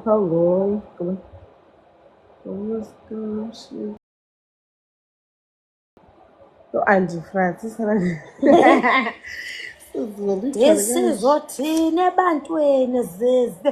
Hello. U-Andy Francis isizothini ebantwini zize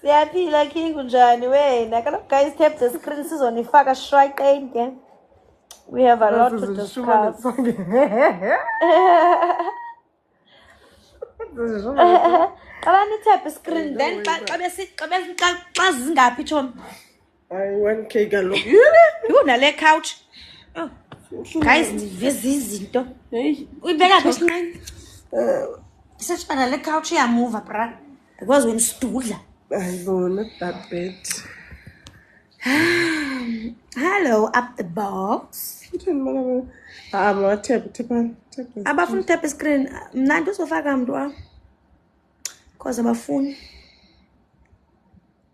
siyaphila king unjani wena kaloku guys tap the screen sizonifaka shraqeni ke we have a lot to discuss qala nithaphe iscreen then xa xa besi- xa besi- xa- xa zingaphi tshomi Ay 1k kaloku. Yho nale couch. Oh. Guys ndiveza izinto. Hey. Uyibeka phi esinqeni? Eh. Sesifana le couch iyamuva bra. Because wena sidudla. Ayibona babet. Hello up the box. Ngithini maka mama? Ah, ma tap tap tap. Abafuna tap screen. Mna ndizofaka mntu wam. Cause abafuni.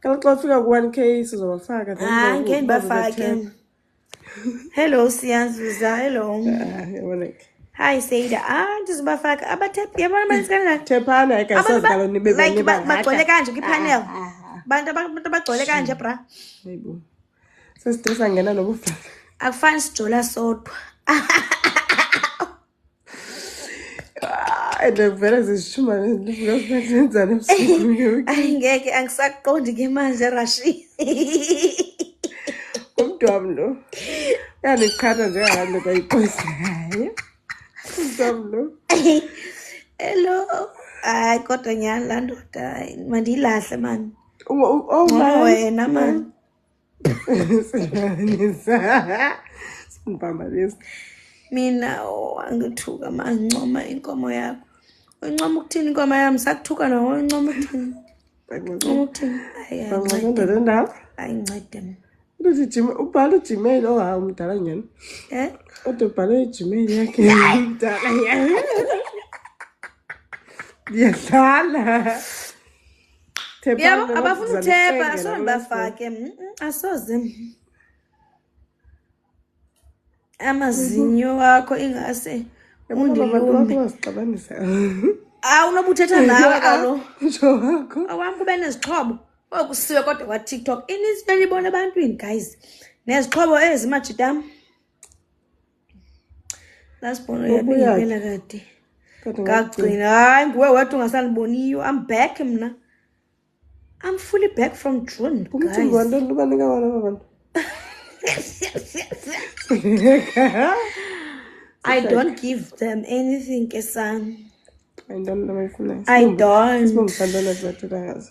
Kala xa ufika ku-1k sizobafaka hayi ngeke ndibafake hello siyazuza hello hayi seyida ah ndizobafaka abatep yabona abantu kangaka tephana ayikasadlalo nibe like bagcwele kanje kwipanel ah, ah, ah. bantu abantu abagcwele kanje bra hayibo sesidisa ngena nobufaka akufani sijola sodwa and ngivele zizishuma ngizokuphethenzana ebusuku ngiyoke ayi ngeke angisaqondi ke manje rashi umntu wami lo uyandiqhatha njengabantu loko ayiqosayo umntu wami lo hello hayi kodwa nyhani laa ndoda hayi mandiyilahle mani Uma- u- oh, Ngoba man. wena mani simbamba lesi mina wangithuka oh, mangincoma inkomo yakho uncoma ukuthini inkomo yami sakuthuka nawo uncoma ukuthini uncoma ukuthini ayincede mina Luthi Jim ubhala uGmail oha umdala nyana. Eh? Kodwa ubhala iGmail yakhe umdala nyana. Yadlala. yabo abafuna uthepha asoze ngibafake mm, mm, asoze amazinyo wakho ingase undilumbeazixabanisa awu noba uthetha nawe kalo awam kube nezixhobo okusiwe kodwa kwatiktok inintsi belibona ebantwini guys nezixhobo ezimajitam Last born uyabingelela kade. Ngagcina hayi nguwe wedwa ungasaniboniyo. I'm back mna. I'm fully back from June. Umcimbi wanto lubaleka wona abantu. I don't give them anything ke son. I don't know my fullness. I don't. Sibongisandana zathi kazi.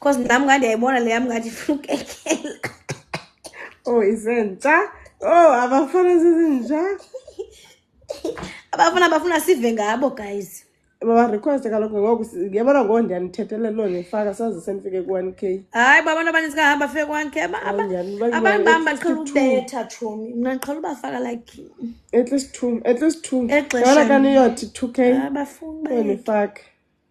Cause nami ngathi yayibona le yami ngathi ifuna ukekela. Oh isentsha. Oh abafana sezinja. Abafana bafuna sive ngabo guys. Baba request kalokho ngoku yabona ngo ndiyanithethelele lo nifaka saze senifike ku 1k. Hayi baba abantu abaninzi kahamba fike ku 1k aba abantu bami baqhela ukubetha chomi. Mina ngiqhela ubafaka like at least 2 at least 2. Yabona kaniyothi 2k. Abafuni bayifaka.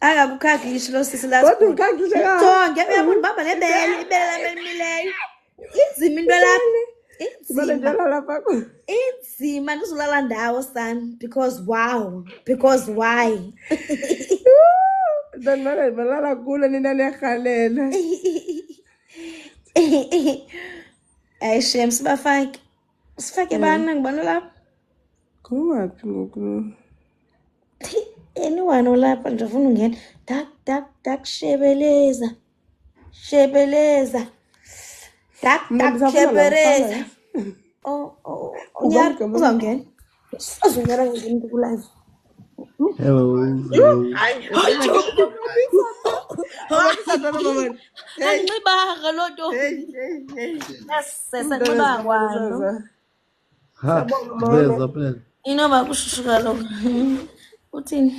akakukhagishi lo sisi la kodwa ukhagishe ka sonke uyabona baba lebele ibele lami elimileyo inzima into lapho Sibale inzima njalo lapha ku. inzima ndizolala ndawo son because wow because why Then mara balala kulo nina niyahalela. ayi shem sibafake Usifake bani ngibona lapho. Kungaphi ngoku? Anyone olapha nje ufuna ungena. Dak dak dak shebeleza. Shebeleza. Dak dak shebeleza. Oh oh. Uzongena. Azonyala ngimuntu kulive. Hello. Anxibaga loo nto. Yes, sesanxiba kwalo. Ha, veza phela. Inoba kushushu kaloku. Uthini?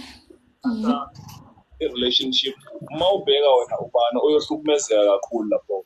irelationship uma ubheka wena ubani oyohlukumezeka kakhulu lapho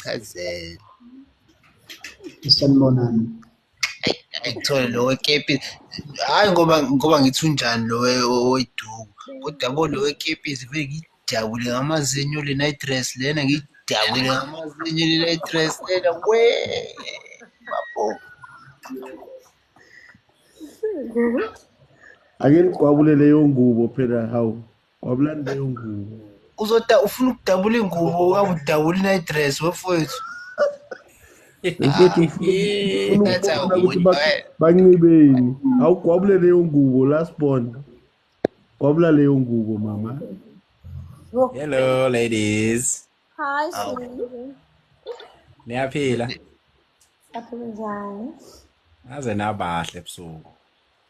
chazela sanibonani ayithole lo wekepisi hhayi ngoba ngoba ngithi unjani lo oweduku kodwa bo lo wekepisi vele ngiyidabule ngamazinyo le night dress lena ngiyidabule ngamazinyo le night dress lena we babo ake nigwabule leyo ngubo phela hawu wabulani leyo ngubo uzota ufuna ukudabula ingubo ukabudabula inidress wefowethu banxibeni awugwabule leyo ngubo last born gwabula leyo ngubo mama hello ladies hi niyaphila aphila njani aze nabahle ebusuku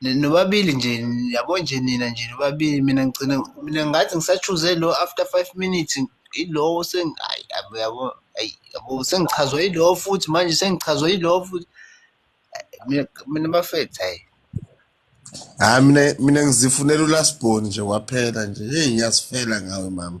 nobabili nje yabo nje nina nje nobabili mina ngigcina mina ngathi ngisachuze lo after five minutes ilowo sengayi yabo yabo ayi yabo sengichazwa ilowo futhi manje sengichazwa ilowo futhi mina mina bafethu hayi hayi mina mina ngizifunela ulasbon nje kwaphela nje hey ngiyasifela ngawe mama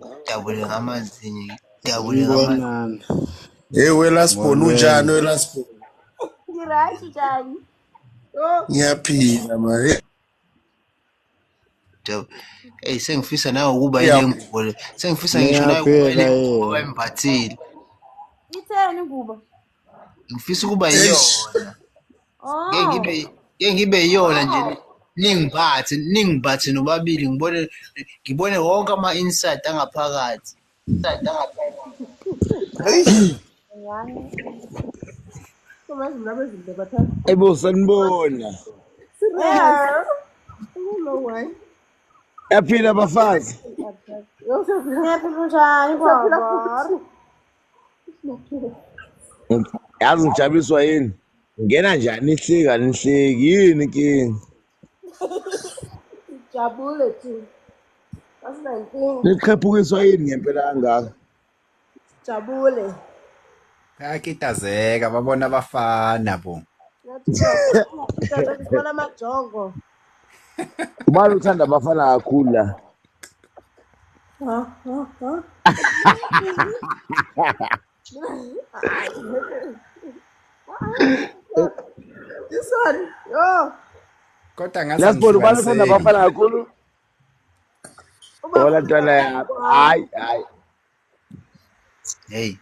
Ngidabule ngamazinyo, ngidabule ngamazinyo. Sanibonani. Hey welasbon unjani welasbon? Ngirashi njani? Oh, Ngiyaphila ma. Hey, Ngidab- Eyi sengifisa nawe ukuba Ngiyab- ile ngubo le. Sengifisa ngisho nawe ukuba ile Ngiyaphila ngubo yena. embathile. itheni kuba? ngifisa ukuba yiyona ngeke oh. ngibe ngeke ngibe yiyona nje oh. ningiphathe ningiphathe nobabili ngibone ngibone wonke ama insight angaphakathi insight angaphakathi Ebo sanibona. Yaphila bafazi. Yaphila kunjani baba? yazi ngijabiswa yini ngena njani ihleki anihleki yini inkinga Jabule tu. That's my thing. niqhephukiswa yini ngempela kangaka Jabule. bayakitazeka babona abafana bo Ngathi uyabona amajongo. Ubani uthanda abafana kakhulu la? This one, yo. Kodwa ngaze Last ball ubani uthanda ngihlukaniseki. abafana kakhulu? Uma Hola ntwana yami. Hayi hayi. hey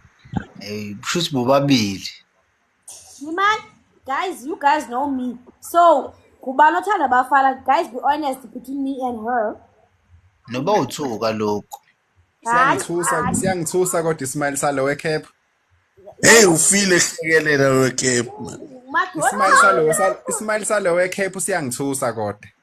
hey shuthi bobabili imani guys you guys know me so kubani othanda abafana guys be honest between me and her noba uthuka lokhu siyangithusa siyangithusa kodwa ismile salo wecap hey ufile ehlekelela wecap man ismile salo ismile salo wecap siyangithusa kodwa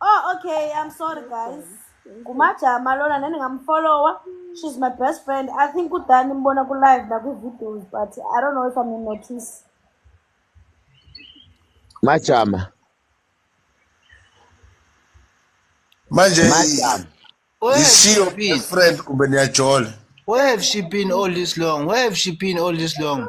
Oh okay, I'm sorry guys. Ngumajama lona nani ngamfollower. She's my best friend. I think udani mbona ku live na ku videos but I don't know if I'm in notice. Majama. Manje Majama. Where have she isiyo been? friend kumbe niyajola. Where have she been all this long? Where have she been all this long?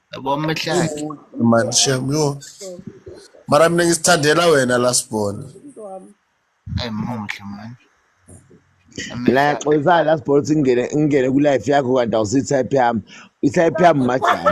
Yabo amahlaki. Man shem yo. Mara mina ngisithandela wena lasibona. Ay muhle man. la xolisana la sibona ukuthi ngingene ngingene ku life yakho kanti awusi type yami i type yami majani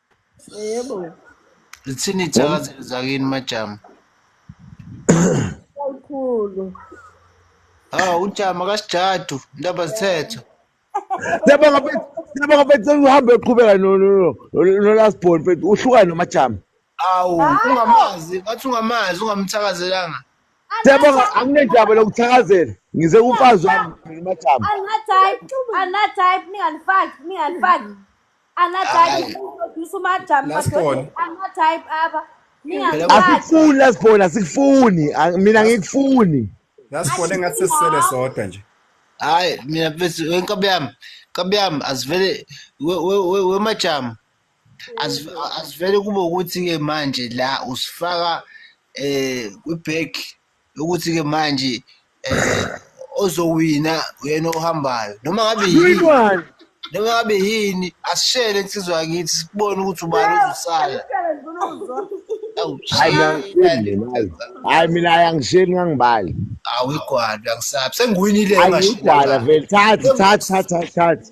yebo lithini ithakazelo zakini majama kakhulu ha ujama kasijadu ndaba zithetho Siyabonga mfethu. Siyabonga mfethu sengihambe uqhubeka no no no no last born mfethu uhlukane nomajama. awu ungamazi bathi ungamazi ungamthakazelanga Siyabonga anginendaba lokuthakazela. Ngize kumfazi wami nomajama. anottype anottype ninganifaki ninganifaki asikufuni lasibona asikufuni mina ngikufuni lasibona engathi sesisele sodwa nje hayi mina bese wenkobo yami nkobo yami asivele wemajama asivele kube ukuthi-ke manje la usifaka um eh, kwi-bag ukuthi ke manje eh ozowina uyena ohambayo noma ngabe yini noma ngabe yini asishele insizwa yakithi sibone ukuthi ubani uzosala hayi mina ayangisheli ngangibali awigwala ngisabi sengiwinile ngashidala vele thatha thatha thatha thatha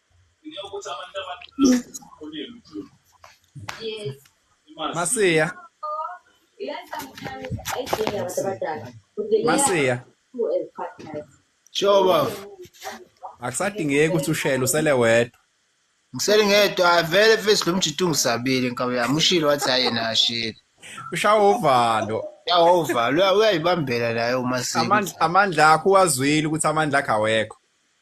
Masiya. Masiya. Choba. Akusadingeki ukuthi ushele usele wedwa. Ngisele ngedwa avele face lo mjito ungisabile nkabi yami ushilo wathi hayi yena ashile. Ushawa uvalo. Ushawa uvalo uyayibambela naye uma sisi. Amandla amandla akho wazwile ukuthi amandla akhe awekho.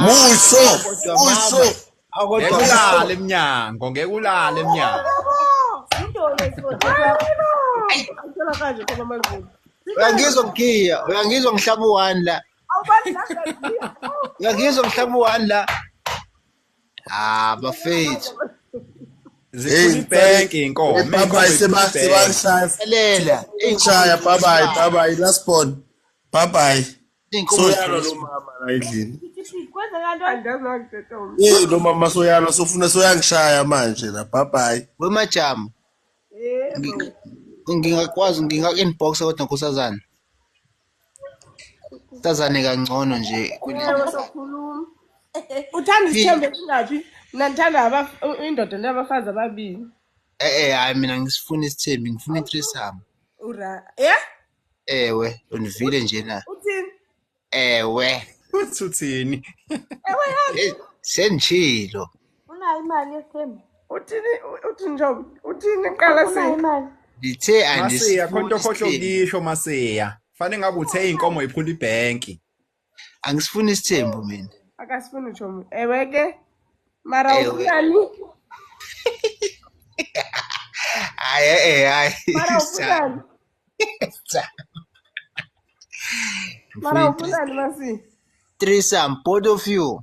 Muso, muso. Ngeke ulale emnyango, ngeke ulale emnyango. Uyangizwa ngiya, uyangizwa ngihlaba u-one la. Uyangizwa ngihlaba u-one la. Ah, bafethu. Zikhulu bank inkomo. Baba sebashaya. Elela. Inshaya baba baba last born. Bye bye. soyalwa lo mama la endlini eh lo mama soyalwa sofuna soyangishaya manje la bye bye wemajama ngingakwazi nginga-inbox kodwa nkosazana sazane kangcono nje uthanda isithembe singaphi mna ndithanda indoda ndabafazi ababini e-e hayi mina ngisifuna isithembi ngifuna itrisam ura ya ewe ndivile nje na uthini ewe uthi uthini ewe yazi senditshilo unayo imali yesithembu uthini uthini njobo uthini qala unayo sini imali ndithe masiya khona into okhohle andisifuni ukuyisho masiya fanele ngabe uthe iy'nkomo yiphula ibhenki angisifuni isithembu mina akasifuni utsho mntu ewe ke mara Ewe. ufunani hayi e-e hayi mara ufunani mara ufunani masi threesome both of you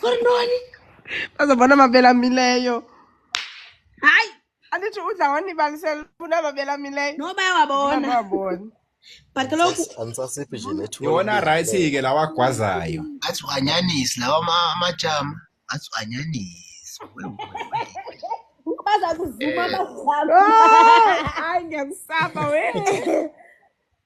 kuri ntoni bazobona amabele amileyo hayi andithi udla wanibalisela funa amabele amileyo no bayawabona bayawabona but kaloku andisasiphi nje nethuba yona right-ke lawa agwazayo athi wanyanisi lawa ama- amajama athi wanyanisi baza kuzuma bazama hayi ngiyakusaba we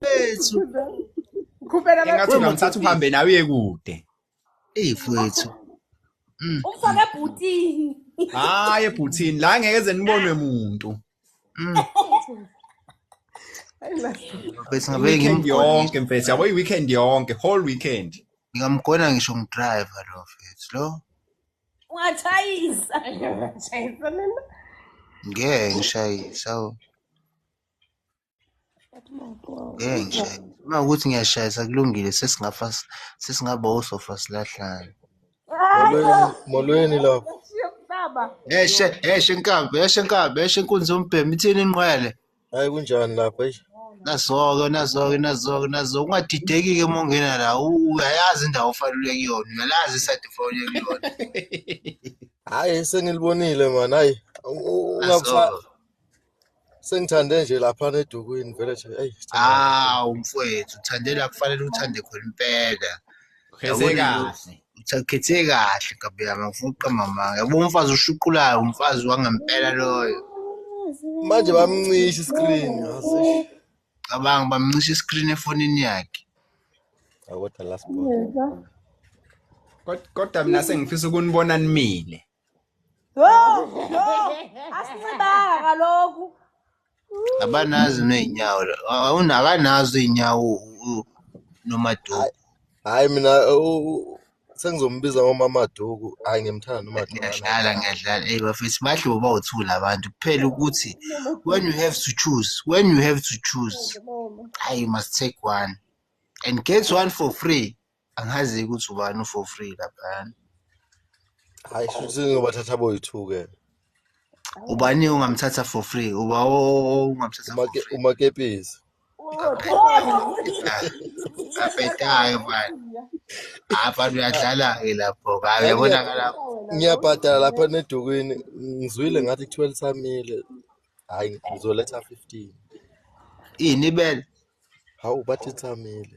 Bethu. Khupela engathi ungamthatha uhambe nawe uye kude eyi fwethu mm. umfake ebhutini hayi ebhutini la ngeke eze nibonwe muntu mm. mfethu ngabe ngimyonke mfethu yabo i-weekend yonke whole weekend ngingamgona ngisho ngidriver lo mfethu lo ungatshayisa ngeke ngishayisa Ngeke nje. Uma ukuthi ngiyashayisa kulungile sesingafa sesingaba osofa silahlane. Molweni, molweni lapho. Eshe, eshe inkabi, eshe inkabi, eshe inkunzi yombhemu ithini inqwele. Hayi kunjani lapho eish. Nazoke, nazoke, nazoke, nazoke ungadideki ke mongena la. u- Uyayazi indawo ofanele kuyona, uyalazi iside ofanele kuyona. Hayi sengilibonile man. Hayi u- u- ungakusa Nazoke. Sengithande nje lapha nedukwini vele nje eyi sithanda kakhulu. Awu mfwethu uthandela kufanele uthande khona impela. Khethe Yabona kahle. uthakhethe kahle gabi yami ngifuna ukuqamba amanga. Yabo umfazi oshuqulayo umfazi wangempela loyo. Manje bamncisha iscreen yazi. eish. Cabanga bamncisha iscreen efonini yakhe. Awu kodwa last born. Kod- Kodwa mina sengifisa ukunibona nimile. asincibanga kaloku abanazi ney'nyawo akanazo iy'nyawo nomaduku hayi mina sengizombiza ngomamaduku hayi ngiyamthanda nomadukuyadlala ngiyadlala ey bafethu bahle bobawuthula abantu kuphela ukuthi when you have to choose when you have to choose hayi you must take one and get one for free angazi ukuthi ubani u-for free laphayana hayi shuthi ngiyobathatha boyi-two ke ubani ungamthatha for free uba ungamthatha for free umakepisi abhedayo mani abantu uyadlala-ke lapho kabe yabonakala ngiyabhadala lapha nedukwini ngizwile ngathi kuthiwa lisamile hhayi ngizoletha fifteen ini ibele hawu bathi lisamile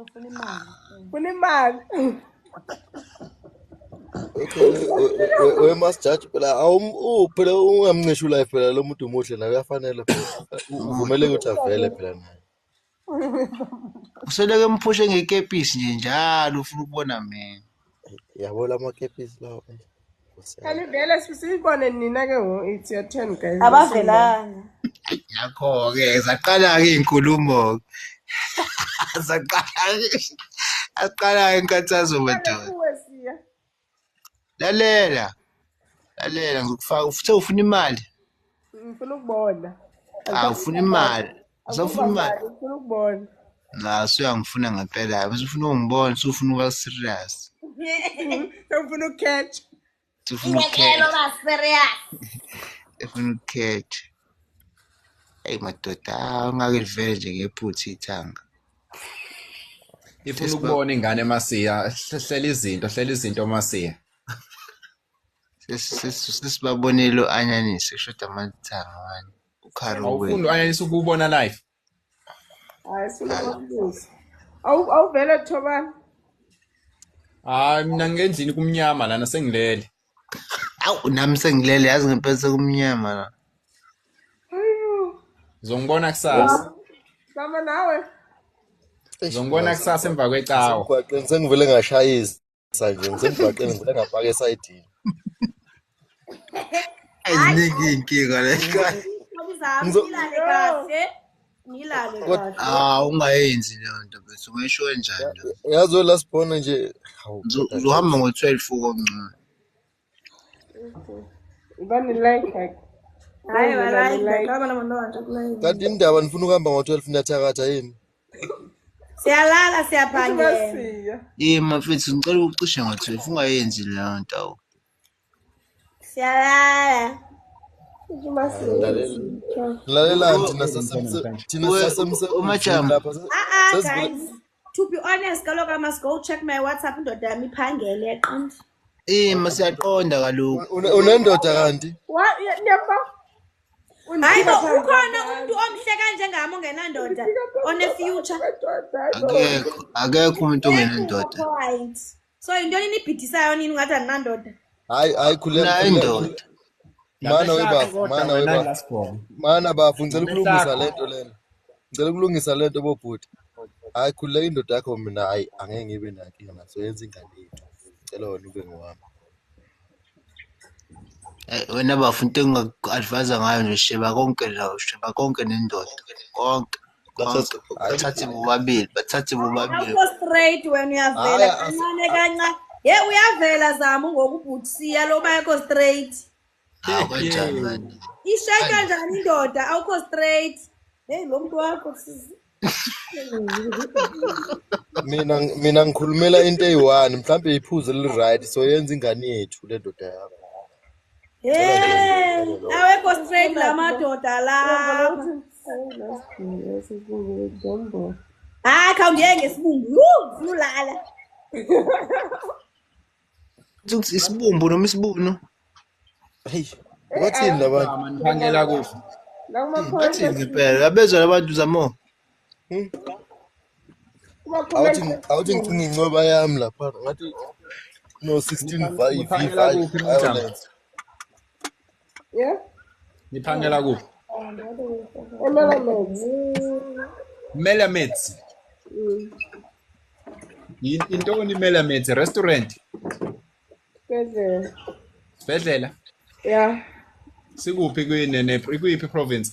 Ufuna imali. we must judge phela awum phela ungamncisha ulife phela lo muntu umuhle naye uyafanele uvumeleke ukuthi avele phela naye useleke mphushe ngekepisi nje njalo ufuna ukubona mina yabo lamakepisi lawo kanivele siyibone nina ke ngo it's your turn guys abavelanga yakho-ke zaqala-ke iy'nkulumo-ke zaqala-ke aqala-ke inkathazo madoda lalela lalela ngizokufaka uthe ufuna imali ngifuna ukubona awufuna imali usafuna imali ngifuna ukubona la suyangifuna ngempela yabo usufuna ungibona usufuna ukuba serious sewufuna ukukhetha sufuna ukukhetha uba serious efuna ukukhetha eyi madoda ungake livele nje ngephutha ithanga ifuna ukubona ingane masiya hlela izinto hlela izinto masiya sesibabonile u-anyanisi kushoda amathanga mani awufuni u-anyanisi ukuwubona life hayi sinababuza awuvele thobani hayi mina ngendlini kumnyama lana sengilele awu nami sengilele yazi ngempela sekumnyama la zongibona kusasa sama nawe zongibona kusasa emva kwecawa emgwaqeni sengivele ngashayisa sanje ngisemgwaqeni ngivele ngafaka esayidini ayiningi inkinga le hawu ungayenzi leyo nto bese ungayisho enjani yazi welasibhona nje uzohamba ngo-twelve ukomncane kanti indaba nifuna ukuhamba ngo-12 niyathakatha yini siyalala siyaphangela ye mafethu ngicela ukucishe ngo-12 ungayenzi leyo nto siyalala lalelani thina sasemsebenzini to be honest kaloku i must go check my whatsapp indoda yami iphangele yaqonda ima siyaqonda kaloku Une- unendoda kanti Wa- ye- niyabona? hayi bo Undiphika ukhona phambi umuntu kwabantu. omhle kanjengami ongenandoda Undiphika phambi one-future kwabantu, hayi bo. akekho akekho umuntu ongenandoda Point. so yintoni nibhidisayo nini ungathi andinandoda hayi hayi khuleka indoda mana webafo mana webafo mana bafo ngicela ukulungisa le nto lena ngicela ukulungisa le nto bobhuti hayi khululeka indoda yakho mina hayi angeke ngibe nankinga naso yenza ingane yethu ngicela wena ube ngowami eh, wena bafo into engingaku-advayisa ngayo nje sheba konke la sheba konke nendoda konke Bathathe bathathe bobabili, bathathe bobabili. Akho straight wena uyavela Hhayi, as- kancane kancane. Ye uyavela Zamu ngokubhuthiya lo bakho straight. Hawu kanjani manje? Ishaya kanjani indoda awukho straight. Hey lo muntu wakho sisi. mina mina ngikhulumela into eyi-one mhlawumbe iphuzu eli-right so yenza ingane yethu le ndoda yakho awekho straight la madoda la hayi khawungiye ngesibumbu funa ulala ukuthi isibumbu noma isibunu heyi wathini labantu ngiphandela kufa ngathi ngempela abezwa labantu zamo Hmm? awuthi awuthi ngicinga incoba yami lapha ngathi no 16 vibe Niphangela vibe kuphi nomjamo? violence Yeah? Niphangela kuphi? Emelaments. Melamets. Mm. Yin- Intoni Melamets? Restaurant, Sibhedlela. sibhedlela. Yeah. Sikuphi kuyini ne kuyiphi province?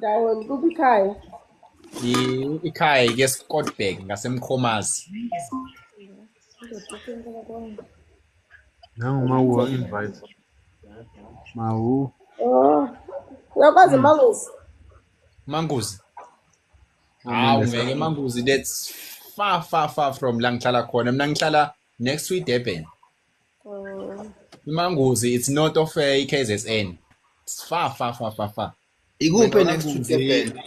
Dawon, kuphi ikhaya? I- Ikhaya ike Scotberg ngasemkhomazi. Nangu uma uwa invite. Mawu. Oh. Uyakwazi manguzi? Manguzi. Hawu ngeke Manguzi that's far far far from la ngihlala khona. Mina ngihlala next to iDurban. imanguzi it's not of eh, ikzn fa fa fa fa fa ikuphi next to durban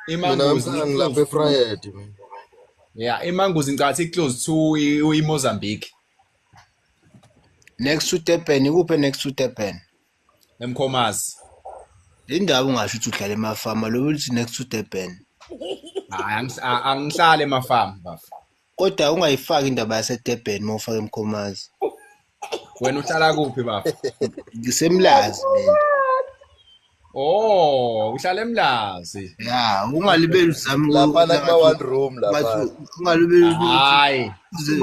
imanguzi ngilapha efriday ya imanguzi ngicathi iclose to imozambique next to durban ikuphi next to durban emkhomazi le ndawo ungasho ukuthi uhlala emafama lokuthi next to durban hayi angihlale emafama bafo kodwa ungayifaki indaba yasedurban uma ufake mkhomazi wena uhlala kuphi baba ngisemlazi mina Oh, uhlala emlazi. Yeah, ungalibeli uzami lapha la kuma one room lapha. Ungalibeli. Hayi.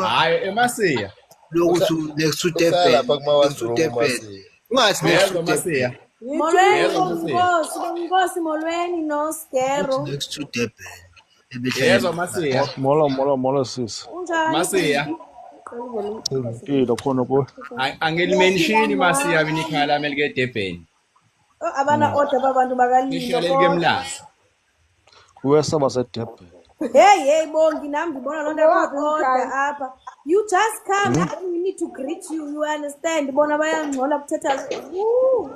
Hayi emasiya. Lokuthi next to Durban. Lapha kuma one room. Ungathi next to Durban. Molweni, Nkosi, Nkosi, Molweni, no, Skero. Next to Durban. Yezwa masiya. Molo molo molo sis. Unjani? Masiya. Impilo khona ku. Angilimenshini masiya mina ikhaya lami elike eDurban. Oh, abana hmm. order babantu bakalilo. Ngisho lelike emlazi. Wesa baseDurban. Hey hey bongi nami ngibona lonto yakhona apha. You just come mm -hmm. we need to greet you you understand bona bayangcola kuthetha. Woo.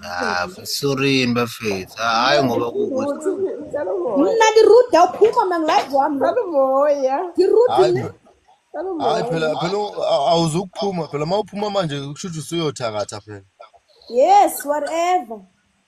Ah, sorry bafethu. Hayi ngoba kukuthi Mina ngiruda uphuma mina ngilazi wami. Ngicela umoya. Ngiruda Hayi mina. phela- hayi phela phela u- a- awuzukuphuma phela uma uphuma manje kusho ukuthi usuyothakatha phela Yes, whatever.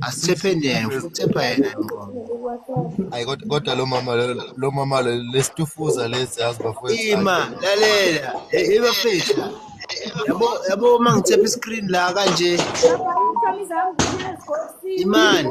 asithephe njena futhi thepha yena ngqondo hayi kodwa kodwa lo mama lo- lo mama lo- lesitufuza lesi yazi bafowethu ima lalela e- ebafethu la yabo yabo uma ngithepha iscreen la kanje Baba, uThami zami, ngiyazigosini. imani